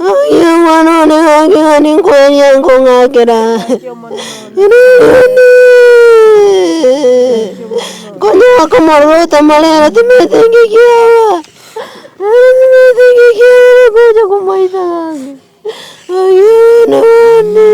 Oyo mwana one gaki gani nkoeria nkong'akera, Rirudi! Konya bakomorora otamare ere timanyeti nki kiaba, ere timanyeti nki kiaba bakocha komoita gaki, Oyo omwana one.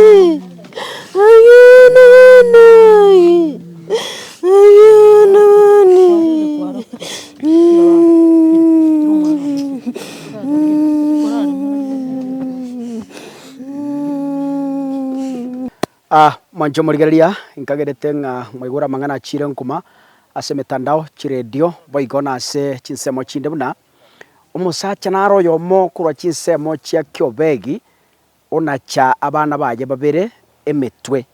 Omonto omorigereria nkagerete ng'a mwaigure amang'ana a chire nkuma ase emetandao, chiredio boigo na ase chinsemo chinde buna, omosacha naro oyomo korwa chinsemo chia kiobegi. onacha abana baye babere emetwe.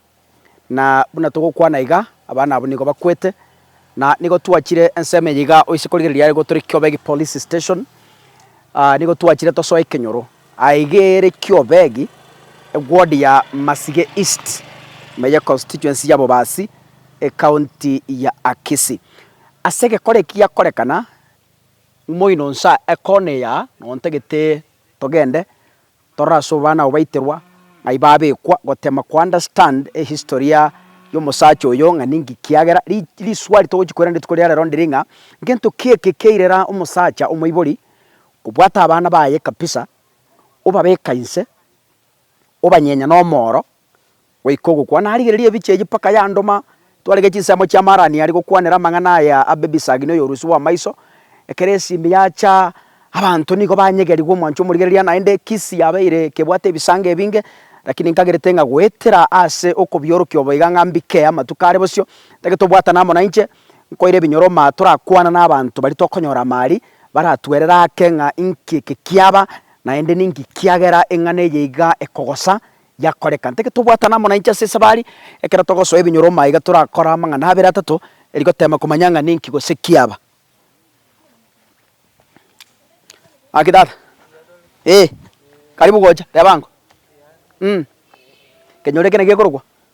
Na buna togokwana iga, abana abwo nigo bakwete, na nigo twachire ensemo eye iga oise korigereria are gotore Kiobe egi police station, nigo twachire tosoe ekenyoro. Aye iga ere Kiobe egi, eward ya Masige East, ime ye constituency ya Bobasi, ecounty ya Akisi. Ase egekora eki giakorekana, ng'uma oino nsa ekona eya, nontagete togende Torora ase obwana abo baiterwa, ng'ai babekwa, gotema ko understand ehistory ya y'omosacha oyo ng'a ninki kiagera ri riswali togochi koirana rituko ria rero ndiri ng'a ngento ki eke kiairera omosacha omoibori kobwata abana baye kabisa, obabeka inse, obanyenya na omooro, Goika ogokwa narigereria ebiche eyio mpaka yandoma twarege chinsemo chia Marani aria gokwanera amang'ana aya a Bebisagi na oyorusia bw'amaiso. Ekero esimi yacha abanto nigo banyegerigwe omwancho omorigereria naende Kisi yabeire kebwate ebisango ebinge lakini nkagerete ng'a goetera ase okobiorokia obo iga ng'a mbike amatuko are bosio ntagete obwatana amo nainche nkoire ebinyoroma torakwana nabanto baria tokonyora amo aria baratwerere ake ng'a inki eke kiaba naende ninki kiagera eng'ana eye iga ekogosa yakoreka. Ntoke tobwatane amo nainche ase esabari, ekero togosoa ebinyoro omaiga torakore amang'ana abere atato, erio goteema komanya ng'a ninki gose kiaba. Gaki tata, ee, karibu gocha, reba ango, mm, kenyoro eke naki gekorokwa.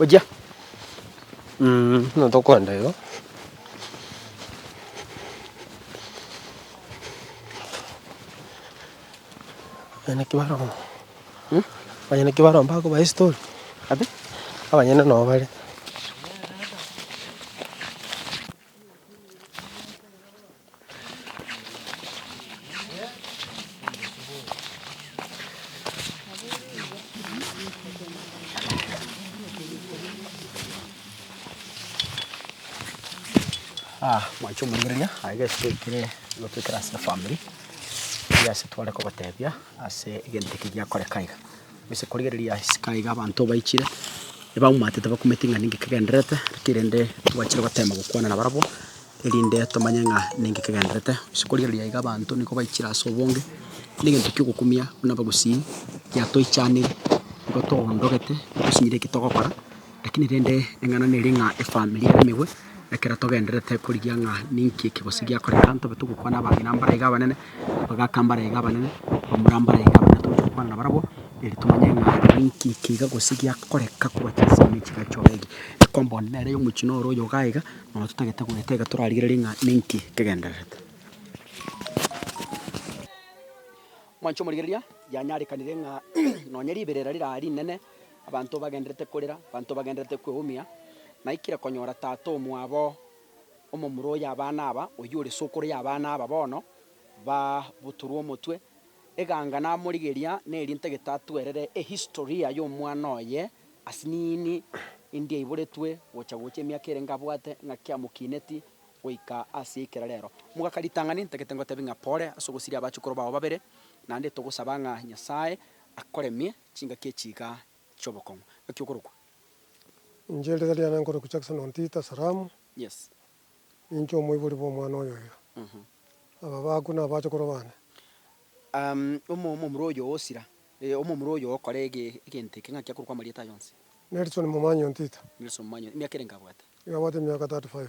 Ochia. Mh, buna tokoenda igo. Abanyene ki bare omo? Mh? Abanyene ki bare omo bakobae story? Abi? Abanyene noo bare. Ah, mwancho omoregereria aiga eswekire gotwekera ase efamiri, eyio ase tware kogotebia ase egento eke giakoreka iga. Gose korigereria isiko aiga abanto obaichire, ebaumatete bakumeti ng'a ninki kegendererete, naki rende tobachire gotema gokwana nabarabwo, erinde tomanye ng'a ninki kegendererete. Gose korigereria aiga abanto nigo baichire ase obonge, kera egento kiogokumia buna abagusii, giatoichaniri, nigo toondogete, tosinyire eki togokora. Lakini rende eng'ana nere ng'a efamiri ere emegwe, ekero togendererete korigia ng'a ninki eke gose giakoreka, ntobe togokwana abang'ina mbare iga abanene, abagaka mbare iga abanene, bamura mbare iga abanene, tobe togokwana nabarabwo eri tomanye ng'a ninki eke iga gose giakoreka korwa chinsa ime chigachoka egi. Ekomba one nere omochie noro oyo igaa iga, nabo totagete goeta iga torarigererie ng'a ninki kegendererete. Mwanche omorigereria, yanyarekanire ng'a nonye riberera rira rinene. Abanto bagendererete korera, abanto bagendererete kweumia, naikire konyora tata omwabo omomura oyo abana aba, oyio ore sokoro y'abana aba bono, babuturwe omotwe. Eganga namorigeria nerinte getatuerere ehistoria y'omwana oye, ase nini indi aiboretwe gocha gocha emiaka erenge abwate ng'a kiamokineti goika ase ekera rero. Mogaka ritang'ani ntagete ngotebie ng'a pore ase ogosiria abachukoro bao babere, naende togosaba ng'a Nyasaye akoremie. Chingaki echiika chi'obokong'u. Ng'aki okorokwa. Inche erieta riane nkorokwa Jackson Ontita Saramu. Yes. Ninche omoibori bw'omwana oyo oyo. Aba baakwa nabachokoro bane. Um, omomura oyo osira. Eh, omomura oyo okora ege, egento eke. Ng'aki akorokwa amarieta aya onsi. Nelson Momanyi Ontita. Nelson Momanyi, emiaka ere nkabwate? Iga abwate emiaka 35.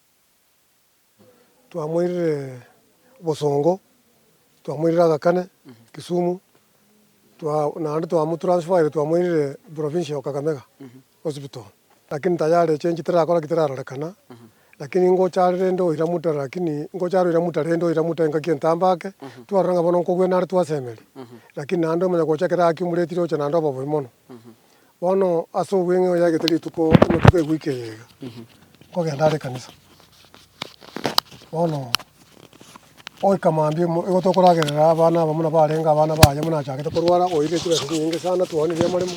Twamoirire bosongo, twamoirire Aga Khan Kisumu, naende twamotransferire twamoirire provincial of Kakamega hospital, lakini tayari echo enchera tirakora ki tirarorekana, lakini ngocha are rende oira mutare lakini ngocha are oira mutare rende oira mutare ngaki entambe ake, twarora ng'a bono nkogwena are twasemeria, lakini naende omanya gocha ekero akumretire ocha naende obe obobe mono. Bono ase obweng'e oyagete rituko ematuko egoika eyaiga, nkogenda are ekanisa. Bono goika mambia mo igo tokoragerera abana aba buna barenge abana baye buna achagete korwara oirire chibesa chinyinge sana twaooneire amaremo,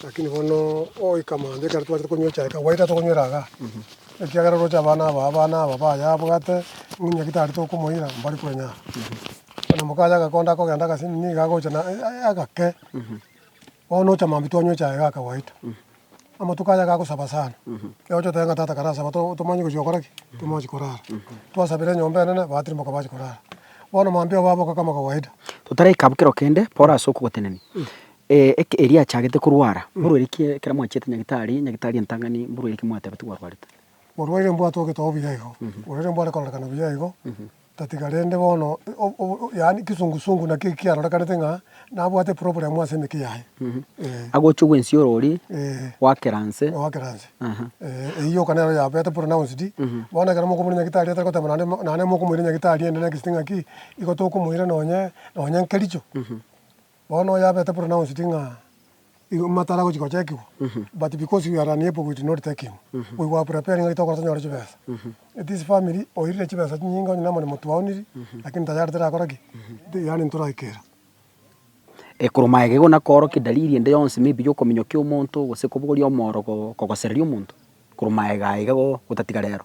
rakini bono goika mambia ekero twachaka konywa echae kagwae tari tokonywera igaa, ekiagera oroche abana aba abana aba baye abwate ng'a ng'aki tari tokomoira mbari konya aa. Bono mokaye agakonda akogenda agasibimi iga agocha na agake. Bono ocha mambia twanywe echae gaka gwaito. Amatuko aya gagosaba sana. Ekero oche otebe ng'a tata karasaba to tomanye gochia gokora ki? Tomochi korara. Twasabera enyomba enene, batirimoka bachi korara. Bono mambia obo aboka kama kawaida. Totaraika abwo kero kende, Paul ase okogotenenia, eh, eke eria achagete korwara, mborweri ki ekero mwachiete nyagitari, nyagitari entang'ani, mborweri ki mwatebeti gwarwarete? Morwaire mbwate ogete obuya igo. Morwaire mbware kororekana buya igo. Tatiga rende bono, yaani ekesungusungu naki ekiarorekanete ng'a nabwate eproblemu ase emeke yaye. Eeh. Agochia ogwensia orori Eeh. goakera nse. Goakera nse. Aha. Eeh, eyio yoka nero yabete pronounced. Bono ekero mokomoira nyagitari atari goteba naende naende mokomoira nyagitari ende next ng'aki, igo tokomoira nonye, nonye nkericho. Bono oyabete pronounced ng'a igo matara agochia gochekigwa, but because we are unable we did not take him, we were preparing ng'aki tokora tonyore chibesa. It is family oirire chibesa chinyinge onye namoremo twaoniri, lakini tayari tirakora ki? Ti yaani ntoraikera. Eh, korwa maega igo nakoorokia dalili ende yonsi maybe ya okominyokia omonto, gose kobogoria omooro ko kogosereria omonto, korwa maega iga go gotatiga rero.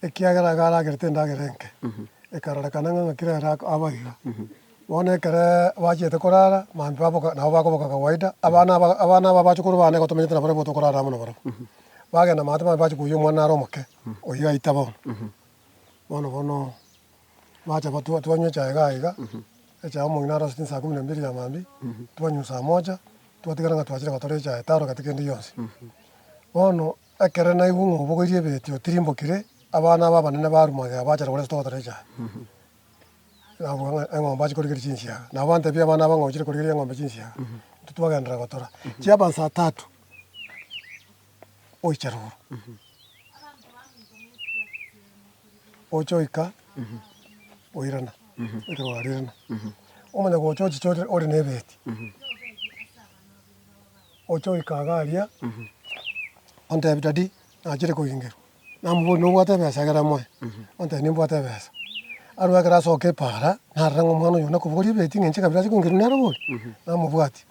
Ekiagera iga aragerete endagera enke, ekarorekana ng'a ng'aki rero ak, aba iga. Bono ekere bachiete korara, maambia baboka, nabo bakoboka kawaida, abana aba, abana aba abachukuru bane igo tomenyete nabarabwo igo tokorara amo nabarabwo. Bagenda maate maambia bachia koyia omwana are omoke, oyio aita bono. Bono bono bacha ba, twa, twanywa echae igaa iga, echae omong'ina arosete insaa kumi na mbiri ya maambia, twanywa saa moja, twatigara ng'a twachire gotara echae, tarora gati kende gionsi. Bono. Ekero naigwe ng'a obogoirie ebieti otirimbokire, abana aba abanene ba Arumageo baachare koresa togotora echaye, nabuga ng'a eng'ombe ache korigeria chinsiaga. Nabo bantebie abana aba ng'a ochire korigeria eng'ombe chinsiaga, intwe twagenderera gotora. Chiaba saa tatu, oiche roro, oche oika oirana, oirana, omanye gocha ochiche ore na ebieti. ochoika iga aria, ontebie, Daddy, nachire kogengerwa. Namoboria, nobwate ebesa egere moe? Ontebie, nimbwate ebesa. Arue ekero asoka epaara, narore ng'a omwana oyo one kobogoria ebeti ng'a inche kabere ase kogengerwa nere boria, namobwatia.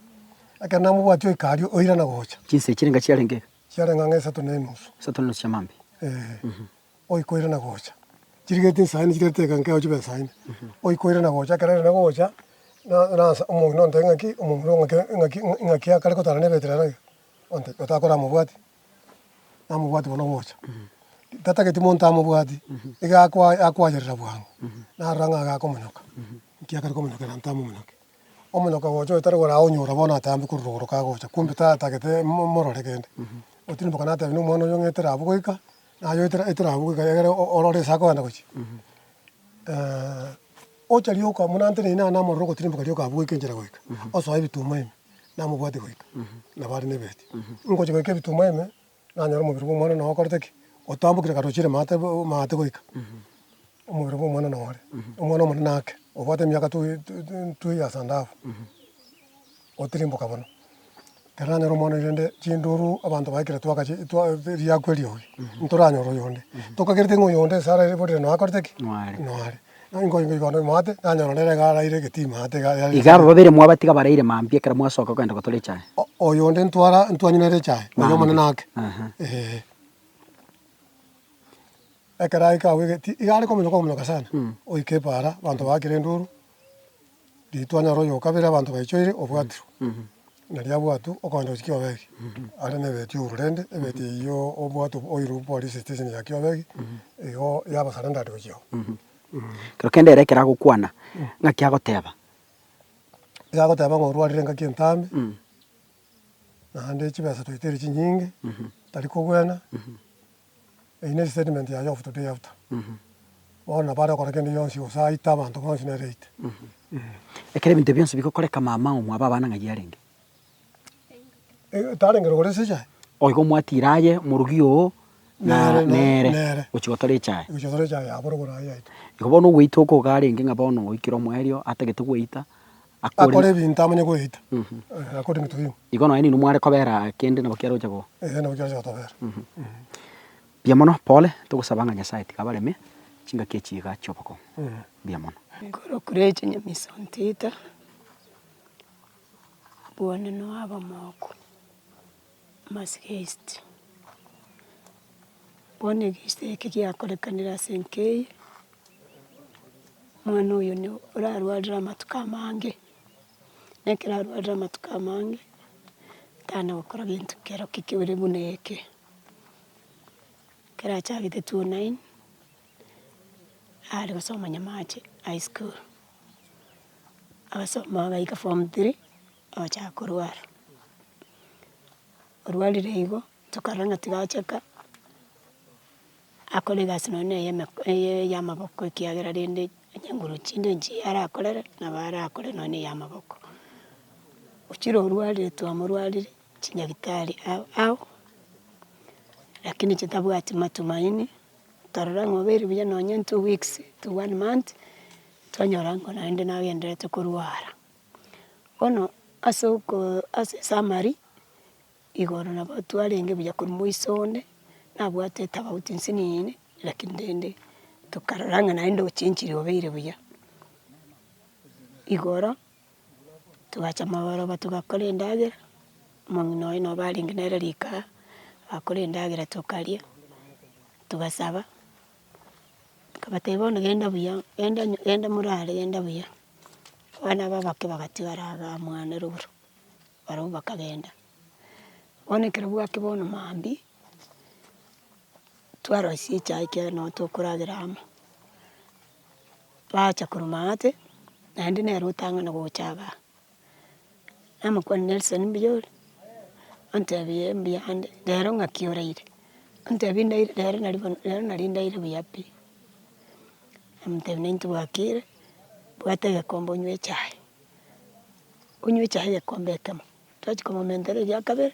Ekero namobwatia oika aria, oirana gocha. Chinsa echi chiarenge iga? Chiarenge ang'e isato na enusu. Isato na enusu chi'amambia? Ee. oikoirana gocha. Chirigeti nsa ime chirigeti teka nkeo chibe nsa ime. Oikoirana gocha ekero erende gocha nansa omong'ina ontebie ng'aki omomura oo ng'aki ng'aki akare kotana ne Beteli arage onte otakoramobwati. Namobwati bono gocha. Tatageti monto amobwati iga akwa akwayerera bwango narora ng'a iga akomonyoka. Nki akare komonyoka ere ntamomonyoki? Omonyoka gocha oyo tari oraonyora bono atambe korwa rogoro kagocha kumbe tatagete mo morore kende. Otino mpaka natebie na omwana oyo ng'etera abwo goika Naye eterabu iga egere orore ase akogenda gochia, ocha rioka buna ante na inee namorero ogotirimboka rioka abweke enchera goika, osoe ebituma ime, namobwate goika, nabo are nebeheti. Ngochia goika ebituma ime, nanyora omobere bwa omwana one okorete ki? Otambokire kare ochiire maate maate goika, omobere bwa omwana one ore, omwana omonene ake, obwate emiaka two two years and half. gotirimboka bono. Taranyora omwana oye rende chinduru abanto baye ekero twagachi twa riakwa erio oyo, ntoranyore oyonde. Tokagereti ng'a oyonde esara ere bori rende nakorete ki? Noare. Noare. Naki nkoigwa igoro na omwate, nanyora nere iga araire egetima ate iga yare Iga aba babere mwabatiga baraire mambia ekero mwasoka kogenda gotora echae. O- oyonde ntwara ntwanywa nere echae, oyo Mambia. omonene ake. Aha. Eeh. Ekero aika abwegeti, iga are komonya komonoka sana, oike epaara, abanto baakire enduru. Ritwani aro oyo okabere abanto baichoire obwatiro, na riabwatwe okogenda gochia Kiobegi, are nebeti ouru rende ebeti eyio obwate oiru polisi station ya Kiobegi, igo yaba surrendered gochia oo. Ekero kende ere ekero agokwana, ng'aki agoteba? Iga agoteba ng'a orwarire engaki entambe, naende chibesa twaitire chinyinge, tari kogwena. Eye ne statement ya Yofu today after. Bono nabo are gokora kende gionsi gose aite abanto bonsi nere aite. Ekero ebinto bionsi bigokoreka mama omo abe abana ng'ai arenge? Tarenge rogoro ase echae? O igo mwatira aye omorogi oo na nere nere gochia gotora echae. Gochia gotora echae yabo rogoro aye yaito. Igo bono ogweita oko iga arenge ng'a bono oikire omoerio atagete gweita, Akore akore ebinto amanye goeita, eh, akore ebinto bimo. Igo nonye ninwe mware kobera kende nabo kiaroche go. Eeh, nabo kiaroche gotobera. Mbuya mono pole, togosaba ng'a Nyasaye tiga abareme chingaki echi iga chi'obokong'u. Mbuya mono. Nkorokureche Nyamiso Ntito, Bwanene oye abamoko. Amasiko ya East, bono egeisita eke giakorekanire ase enka eye, omwana oyo nigo orarwarire amatuko amange, na ekero arwarire amatuko amange, tana gokora gento kero ki kere buna eke. Ekero achagete two o nine, are gosoma nyamache high school, agasoma agaika form three. ogochaka korwara. Orwarire igo, tokarora ng'a tiga achaka, akore egasi nonya eye emeko eye eyamaboko ekiagera rende onye nguru chinde nchi arakorere, nabo arakore nonya ya amaboko. Ochire orwarire twamorwarire chinyagitari ao ao, lakini chitabwati matumaini, torora ng'a obeire buya nonya two weeks to one month, twanyora ng'a naende nagendererete korwara. Bono ase okoo ase esamari, igoro nabo twarenge buya korwa moiso onde, nabwate etofauti nsinini, lakini rende tokarora ng'a naende ochenchiri obeire buya. Igoro, togacha amaboroba togakora endagera, omong'ina oye nobo arenge nere rikaa, agakora endagera tokaria, togasaba. Akabatebia bono genda buya, genda nyo genda morare genda buya, abana abwo abake bagatigara abwo mwane rogoro, barabwo bakagenda. Bono ekero bwaki bono maambia, twarosia echae ekiagera nabo tokoragera amo, baacha korwa maate, naende nere otang'ane gocha igaa. Namokwania Nelson mbuya ore, ontebia mbuya ande, rero ng'aki oraire? Ontebia ndaire rero nari bono rero nari ndaire buya pi. Namotebia nari ntibwakire, bwata egekombe onywe echae, onywe echae egekombe ekemo, twachia komomentera eria kabere,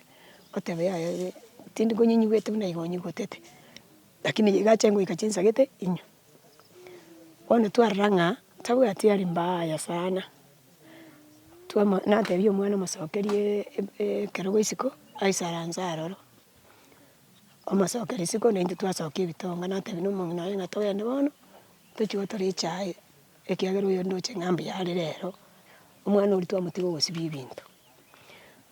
oteba yaya ere tindi konyinywete buna igo onyigotete, lakini iga ache goika chinsagete inywe. Bono twarora ng'a tabwati aria mbaya sana. Twama, natebia omwana mosokerie ekerogo isiko, aisaranse aroro, omosokeria isiko naintwe twasokia ebitonga, natebia na omong'ina oye ng'a togende bono, tochie otore echae, ekiagera oyo ndoche ng'a mbuya are rero, omwana oria twamotiga ogosibia ebinto.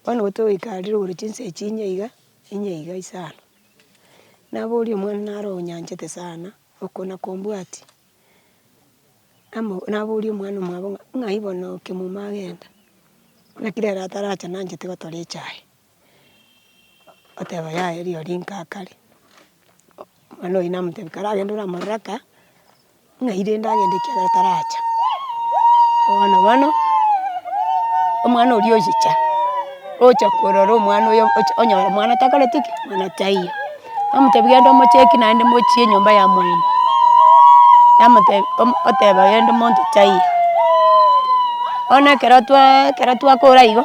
Bono igo togoika are igoro chinsa echi inye iga, inye iga isano, naboria omwana naro onyanchete sana, okona kombwati. Amo naboria omwana omwabo ng'a ng'ai bono oke muma agenda, naki rero atarache nancheti gotora echae, oteba yaya riria rika akare, omwana oyio namotebi kare agende oramorore aka, ng'ai rende agende ekiagera taracha. Bono bono, omwana oria oyicha, ocha korora omwana oyo ocha onyora omwana takoreti ki? Mwana taiyo. Namotebi genda omocheki naende mochie enyomba ya moino, namotebi oteba genda omonto taiyo, bono ekero twaa ekero twakora igo,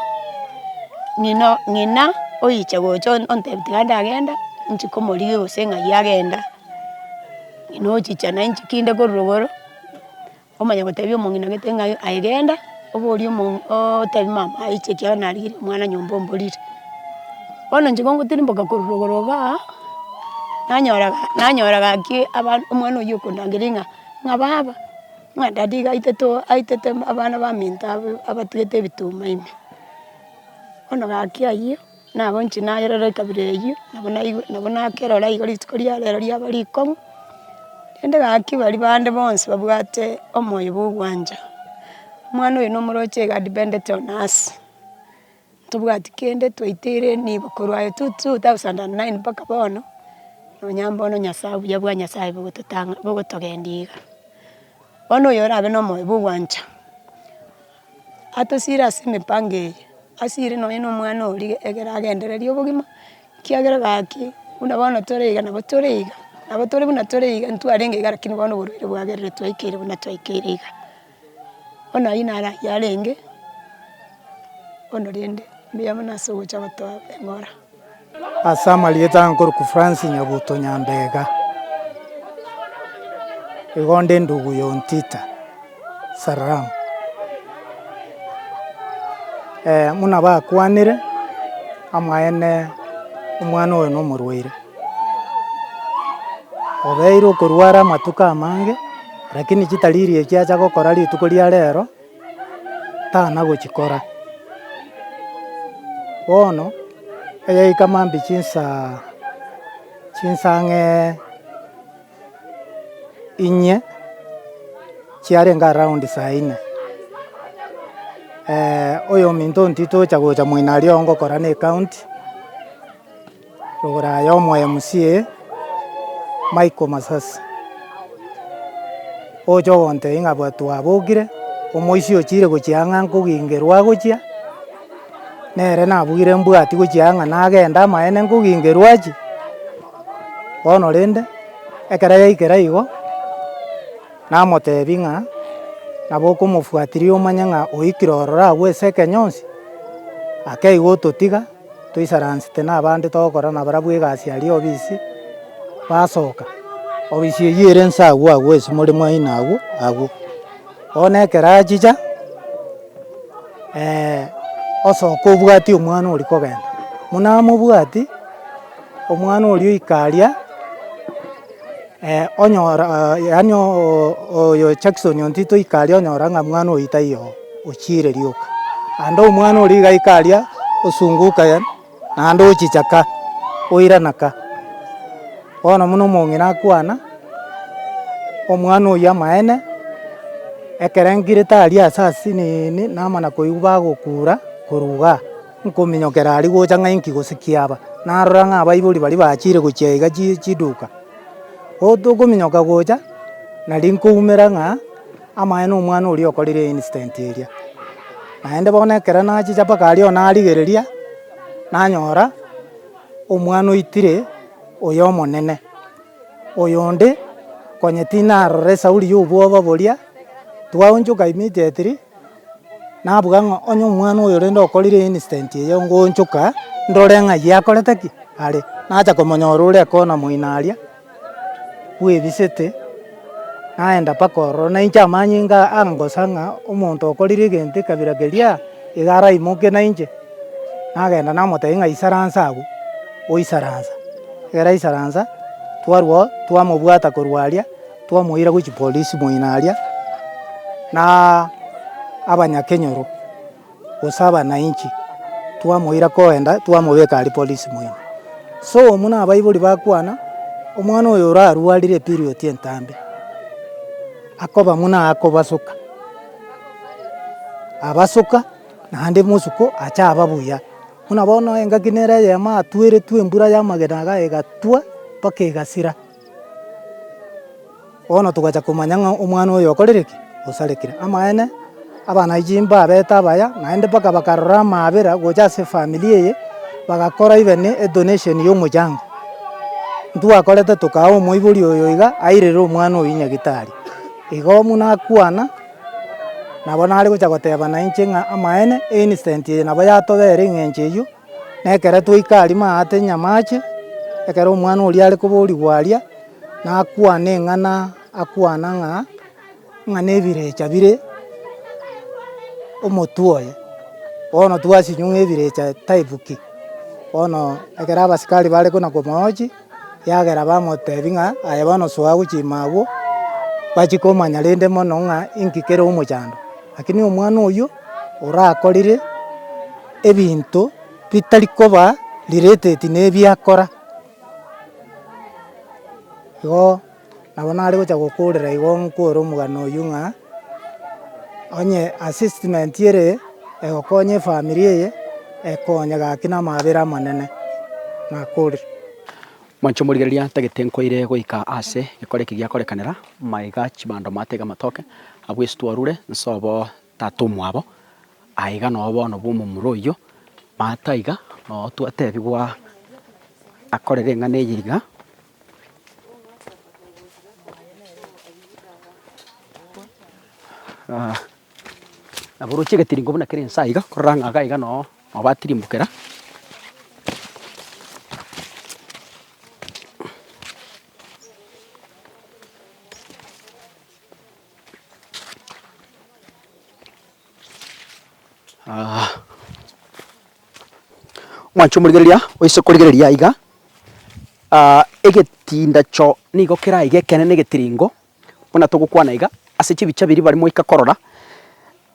ng'ina o ng'ina oyiche gocha ontebi tiga ndagenda, nchie komorigia gose ng'ai agenda, ng'ina ochicha nainche kinde korwa igoro. Omanya gotebia omong'ina gete ng'a aye genda, oborie omo otebie mama aiche ekiagera narigirie omwana nyomba omborire. Bono inche gongotirimboka korwa igoro iga, nanyora ga nanyora gaki aba omwana oyio okondangeria ng'a ng'a baba, ng'a dady iga aitete oo aitete abana baminto aba abatigete ebituma ime. Bono gaki ayio. Nabo inche nayerore ekabira eyio, nabo naigwe nabo nakerora igo rituko ria rero riaba rikong'u, rende gaki baria bande bonsi babwate omoyo bwa ogwancha. Omwana oyo na omoroche iga adependete on us, tobwati kende twaite ereni igo korwa aye tu- tu two thousand and nine mpaka bono, nonya mbono nyasae obuya bwa nyasae bogototang'a bogotogendia iga. Bono oyo orabe na omoyo bwa ogwancha. Atosiire ase emipango eye, asiire nonya na omwana oria ekero agendereire obogima, ekiagera gaki buna bono tore iga nabo tore iga, nabo tore buna tore iga, ntwarenge iga lakini bono oborwaire bwagerire twaikeire buna twaikeire iga. Bono ayio naro ayio arenge, bono rende mbuya mono ase ogocha gotoa eng'ora. Ase amarieta nkorokwa Franc Nyabuto Nyambega, igo nde ndugu ya Ontita Saram. Buna bakwanire, amaene omwana oyo na omorwaire, obeire okorwara amatuko amange, rakini chitariri ekiacha gokora rituko ria rero. tana gochikora. Bono eyaika maambia chinsaa chinsaa ng'ee inye, chiarenge around saa inye, oyominto ontiete ocha gocha moino aria ongokora na ecount. Rogora aye omoMCA Michael Masasi, ogocha ogontebia ng'a abwo twabokire, omoisia ochire gochia ang'e nkogingerwa agochia, nere nabugire mbwati gochia ang'a nagende amaene nkogingerwa achie, bono rende, ekero yaikera igo, namotebia ng'a nabo okomofuatiria omanye ng'a oikire ororo agwo ase ekero gionsi, ake igo ototiga. toisaransete nabande togokora nabarabwo egasi aria obisi, basoka. Obisi eyio ere nse agwo agwo ase more mwaino agwo agwo. Bono ekero achicha, osoka obwati omwana oria kogenda, buna amobwati. Omwana oria oikaria, onyora yaani oyo Jackson ontito oikaria onyora ng'a mwana oyio taiyo oo, ochiire rioka. Naende omwana oria iga aikaria osunguka yaani naende ochicha ka, oirana ka. Bono buna omong'ina akwana, omwana oyio amaene, ekero ngire tari ase asiniini, namana koigwa bagokura korwa igaa. Nkominyokera aria gocha ng'a inki gose kiaba, narora ng'a abaibori baria bachire gochia iga chi chiduka. Bo tokominyoka gocha, nari nkoumera ng'a amaene omwana oria okorire incident eria. Naende bono ekero nachicha mpaka aria narigereria, nanyora omwana oitire oyo omonene, oyonde konye tinarora esauri ya obwoba boria, twaonchoka immediately. nabuga ng'a onye omwana oyo rende okorire incident eye ngoonchoka ndore ng'a aye akorete ki? Are. Nacha komonyora ore ekona moino aria, bwebisete, naenda mpaka ororo nainche amanyinga aa angosa ng'a omonto okorire egento ekabira keria, iga araimoke nainche. Nagenda namotebia ng'a isaransa agwo, oisaransa. Ekero aisaransa, twarwao twamobwata korwa aria. Twamoira gochia polisi moino aria, na abanyakenyoro, gose abanainchi, twamoira koenda twamobeka aria polisi moino. So omu na abaibori bakwana, omwana oyo orarwarire eperioti entambe, akoba muna akobasoka, abasoka naende mosuko ache aba buya. Buna bono engaki nere eyemo atweretwe embura y'amagena iga egatwa mpaka egasira. Bono togacha komanya ng'a omwana oyo okorire ki? Osarekire. Amaene, abana ba chimbwa babete abaya, naende mpaka bakarora amaabera gocha ase efamiri eye, bagakora even edonation ya omochango. Intwe gwakorete tokaa omoibori oyo iga airere omwana oyio nyagetari. Igo buna akwana, nabo nare gocha goteba nainche ng'a amaene, ensdent eye nabo yatobera eng'encho eyio. Na ekero twaika aria maate nyamache, ekero omwana oria are koborigwa aria, nakwana eng'ana akwana ng'a, ng'a nebirecha bire omotwe oye. Bono twasinywa ng'a ebirecha type ki? Bono ekero abasikari bare kona komochi. Eagera bamoteebia ng'a, Aye bono soa gochima agwo, bachie komanya rende mono ng'a inki kere omochando. Lakini omwana oyio orakorire ebinto bitari koba related nebiakora, igo. Nabo nare gocha gokoorera igo nkwore omogano oyio ng'a, onye assessment ere egokonya efamiri eye, ekonye gaki na amaabera amanene, nakorire. Mwanche omorigereria tagete nkoire goika aase gekore eki giakorekanera, maiga chibando matega amatoke, abwo esito arure, nse obo tata omwabo, aiga noyo bono bwa omomura oyio, mataiga, noyo twatebigwa akorere eng'ana eye iga, Nabo oroche egetiringo buna kere inse aiga, korora ng'a iga noo nabo batirimbokera. Mwanche omorigereria oise korigereria iga, egetindacho nigo keraigekene negetiringo buna togokwana iga, ase chibicha biria bare moika korora,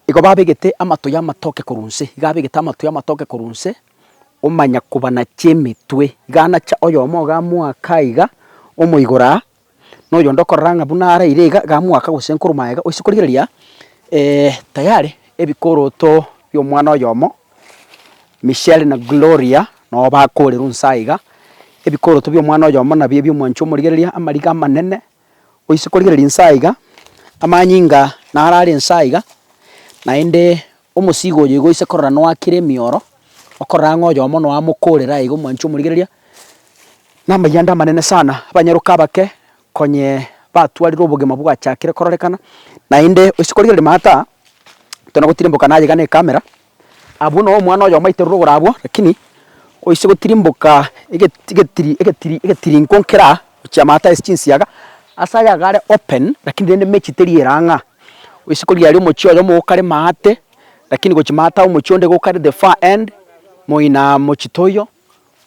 igo babegete amatuya amatoke korwa inse, iga abegete amatuya amatoke korwa inse, omanya kobanache emetwe, iga anacha oyomo iga amoaka iga omoigoro aa, na oyonde okorora ng'a buna araire iga, iga mwaka gose nkorwa aye iga, oise korigereria tayari ebikoroto bia omwana oyomo, Michelle na Gloria, nabo bakoorerwa inse aye iga, ebikoroto bia omwana oyomo nabio ebio omwancha omorigereria, amariga amanene, oise korigereria inse aye iga, amanyinga naro are inse aye iga, naende. Omosiiga oyo igo ise korora noakire emioro, okorora ng'a oyomo noamokorera aye iga omwanche omorigereria, namaiga ande amanene sana, abanyaroka abake konye batwarire obogima bwachakire kororekana, naende ase korigereria maata tona gotirimboka naye iga ne camera, abwo noo omwana oyomo aiterwe rogoro abwo, rakini oise gotirimboka egeti getiri egetiri egetirinko nkera gochia maata ase chinsiaga, ase ayagare open rakini rende mechi teri erang'aa. Isiko riaria omochie oyomo gokare maate, lakini gochia maate aa omochie onde gokare the far end, moina mochie toiyo,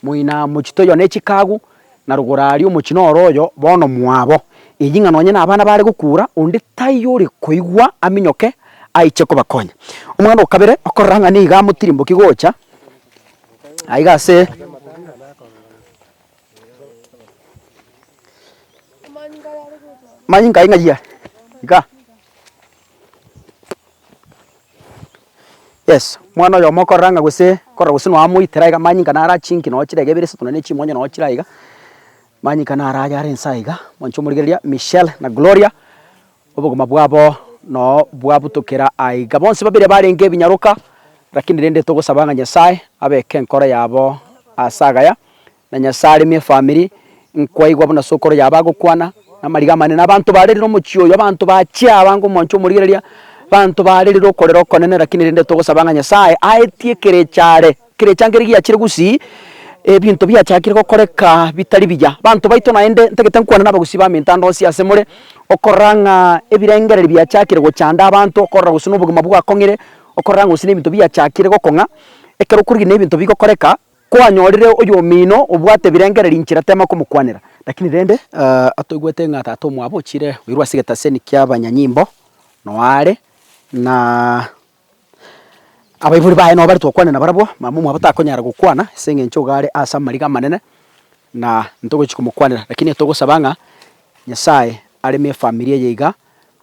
moina mochie toiyo ne chikagu, na rogoro aria omochie noro oyo bono mwabo. Eyio ng'a nonye na abana bare gokura, onde taiyo ore koigwa aminyoke aiche kobakonya. Omoganda o kabere okorora ng'a nigo amotirimbokigwe gocha aiga ase. Manyinga aye ng'ai are? Iga. Yes, omwana oyomo okorora ng'a gose okorora gose nonya amoitera iga manyinga naro achinki nonya chirege ibere isato nonya ne chimonyo nonya chire aiga, manyinga naro aye are inse aiga, omonto omorigereria, Michelle na Gloria, Obogima bwabo noo bwabutokera aiga. Bonsi babere barenge ebinyaroka, rakini rende togosaba ng'a Nyasae abeke enkoro yabo ase agaya, na Nyasae aremie efamiri. Nkwaigwa buna sokoro yabo agokwana namariga amanene, abanto barerire omochie oyo, abanto bachia abange omwancho omorigereria, abanto barerire okorera okonene, rakini rende togosaba ng'a Nyasae aetie ekerecha are. Kera echangere giachire gusii, ebinto biachakire gokoreka bitari biya. Banto baito naende ntagete nkwane nabagusi baminto ande onsi ase more, okorora ng'a ebirengereri biachakire gochanda abanto, okorora gose nobogima bwakong'ire, okorora ng'a gose nebinto biachakire gokong'a. Ekero okorigia na ebinto bigokoreka, kwanyorire oyomino obwate ebirengereri inchera tema komokwanera. Lakini rende atoigwete ng'a tata omwabo ochire goirwa ase egetaseni kiabanyanyimbo noyo are, na Abaibori baye nao baretwe gokwana nabarabwo, mama omwabo takonyara gokwana ase engencho iga are ase amariga amanene, na ntogochi komokwanera. Rakini togosaba ng'a Nyasaye areme efamiri eye iga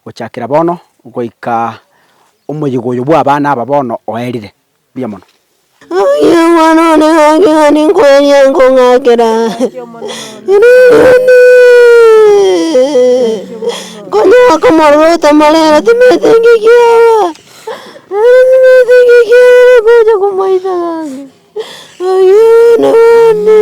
gochakera bono goika omoyigo oyo bw'abana aba bono oerire. Mbuya mono. Aye mwan'one gaki gani nkweria nkong'akera, Ririkana, konya aka omorero otamarera timanyete inki kiaba, nere timanyete inki kiaba bakocha komoita gaki, aye bene bani.